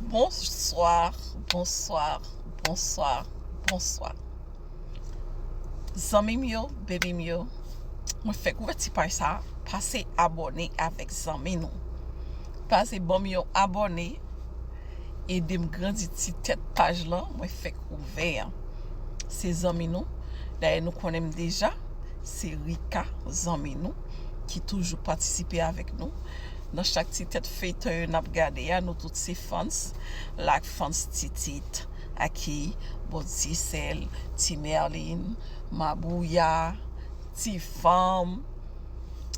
Bonsoir, bonsoir, bonsoir, bonsoir Zanmim yo, bebim yo Mwen fèk wè ti paj sa Pase abòne avèk zanmi nou Pase banm yon abòne Edem grandi ti tèt paj lan Mwen fèk ouvè an Se zanmi nou Dayè nou konnenm deja Se Rika zanmi nou Ki toujou patisipe avèk nou Nan chak ti tèt feyton yo nap gade a nou tout se fans la ak fans titit aki bon tisèl ti merline mabouya ti fanm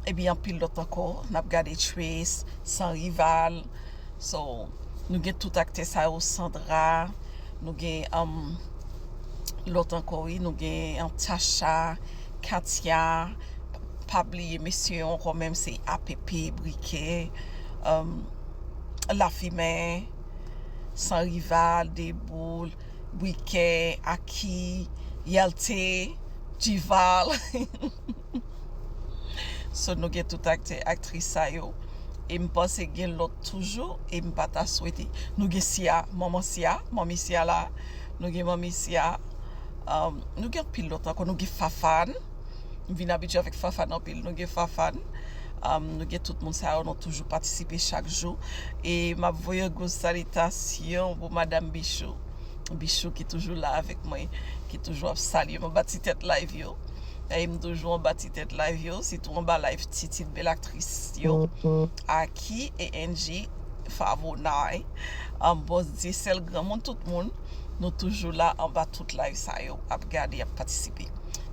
ebyen anpil lòt ankò nap gade tchuips san rival so nou gen tout aktè sa yo sandra nou gen humm lòt ankò wi nou gen tacha katia. Pa bliye mesye ankò menm se app, brikè, lafimen, san rival, deboul, brikè, aki, yèlte, dival So nou gen tout aktè aktris sa yo e m panse gen lòt toujou e m pa ta swete Nou gen Siya, manman Siya, manmi Siya la Nou gen manmi Siya Nou gen anpil lòt ankò Nou gen Fafane. m vin abitye avèk Fafane anpil nou gen Fafane nou gen tout moun sa yo nou toujou patisipe chak jou e m ap voye yon gwo salitasyon pou madam Bichou Bichou ki toujou la avèk mwen ki toujou ap salye m anba ti tèt layv yo e m toujou anba ti tèt layv yo sitou anba layv titit bèl aktris yo Aki e Enji Favonay Bòs Dyesèl granmoun tout moun Nou toujou la anba tout live sa yo ap gade ap patisipe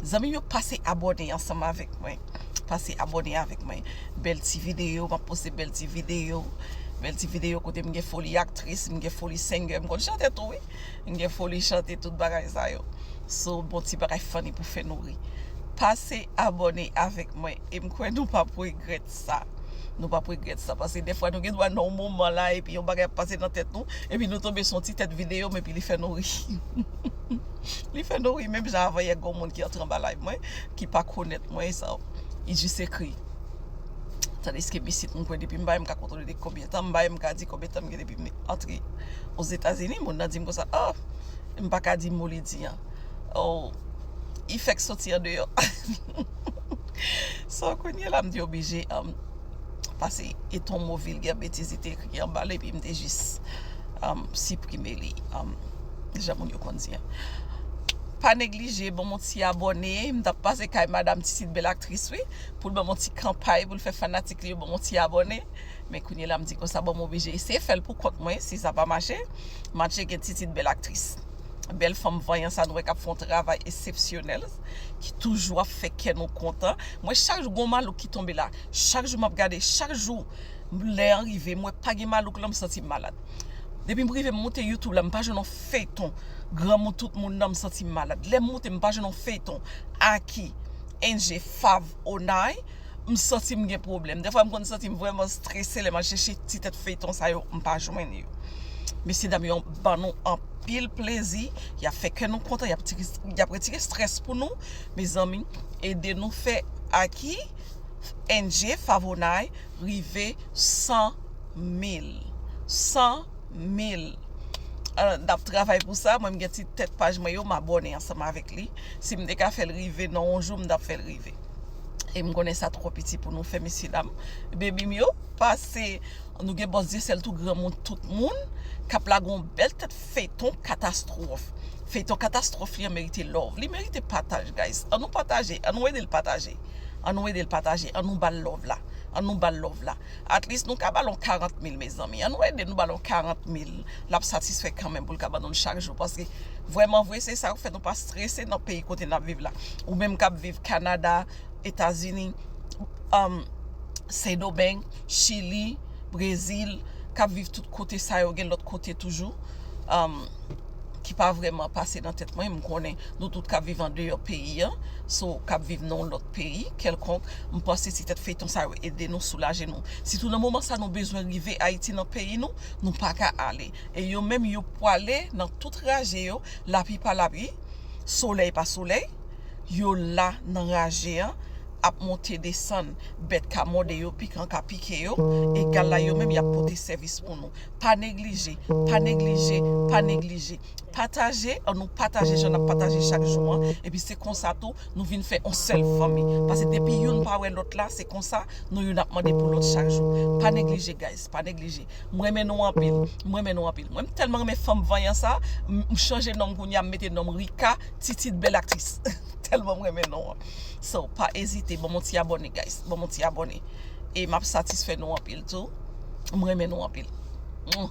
zanmim yo pase abòne ansanm avèk mwen pase abòne avèk mwen bèl ti video map poste bèl ti video bèl ti video kote m gen foli aktris m gen foli sengè m konn chante tou wi m gen foli chante tout bagay sa yo so bon ti bagay funny pou fè nou ri pase abòne avèk mwen em kwè nou pap regrèt sa nou pap regrèt sa paske defwa nou gen dwa nan yon moman la epi yon bagay ap pase nan tèt nou epi nou tonbe sou yon ti tèt videyo epi li fè nou ri li fè nou ri menm jan avan yè gen yon moun ki antre anba live mwen ki pa konèt mwen sa li jis ekri tadiske isit mwen kwè depi m bay m ka kontwole depi konbyen tan m bay m ka di konbyen tan m gen depi m antre ozetazini moun nan di m konsa oh m pa ka di mo li di an oh Effect soti andeyò. So kounye la m te oblije pase e ton mo vilgè betiz li te ekri anba l epi m te jis siprime li jan moun yo konn di an. Pa neglije banm yon ti abòne m tap pase kay madam Titite bèl aktris wi pou l banm yon ti kanpay pou l fè fanatik li yo banm yon ti abòne men kounye la m di konsa bon m oblije eseye fè l pou kont mwen si sa pa mache ma tcheke Titite bèl aktris bèl fanm vanyan sa nou wè k ap fè yon travay esepsyonèl. ki toujou ap fè kè nou kontan mwen chak jou gon malouk ki tonbe la chak jou map gade chak jou lè an rive mwen pa gen malouk lan m santi m malad depim rive m moute youtube la m pa jwenn yon feyton granmou tout moun nan m santi m malad lèm moute m pa jwenn yon feyton aki, enje, fav, onay. M santi m gen pwoblèm. Dèfwa m konn santi m vrèman strese lè m al chèche ti tèt feyton sa yo m pa jwenn yo. Mesye dam yo ban nou anpil plezi, y ap fè kè nou kontan, y ap retire strès pou nou. Mezanmi ede nou fè Aki NJ Favonay rive 100 mil. 100 mil. N ap travay pou sa. Mwen m gen ti tèt paj mwen yo m abòne ansanm avèk li. Si m te ka fè l rive nan yon jou m ta fè l rive. e m konnen sa twò piti pou nou fè mesye dam bebi m yo pase nou gen bòs dyesèl tou granmoun tout moun k ap lage yon bèl tèt feyton katastwòf feyton katastwòf li an merite love li merite pataj guys an nou pataje an nou ede l pataje an nou ede l pataje an nou ba l love la an nou ba l love la at least nou ka ba l yon 40 mil mezanmi an nou ede nou ba l yon 40 mil l ap satisfè kanmenm pou l ka ban nou l chak jou paske vrèmanvre se sa k ap fè nou pa strese nan peyi kote n ap viv la ou menm k ap viv Kanada Etazini Sendomeng Chili Brezil k ap viv tout kote sa yo gen lòt kote toujou ki pa vrèman pase nan tèt mwen m konnen nou tout k ap viv andeyò peyi an sou k ap viv nan yon lòt peyi kèlkonk m panse ti tèt feyton sa yo ede nou soulaje nou sitou nan moman sa nou bezwen rive Ayiti nan peyi nou. nou paka ale e yo menm yo pwale nan tout raje yo lapli pa lapli solèy pa solèy yo la nan raje an ap monte desann bèt ka mòde yo pikan ka pike yo egal la yo menm yap pote sèvis pou nou pa neglije pa neglije pa neglije pataje an nou pataje jan nap pataje chak jou an epi se konsa tou nou vin fè yon sèl fanmi pase depi youn pa wè lòt la se konsa nou youn ap mande pou lòt chak jou pa neglije guys. Pa neglije. M renmen nou anpil. M renmen nou anpil. Mwen m telman renmen fanm vanyan sa. M chanje nom kounya m mete nom Rika Titid belle actrice. Telman m renmen non an. So pa ezite banm yon ti abone guys. Banm yon ti abone. E map satisfè nou anpil tou. M renmen nou anpil. Mwah.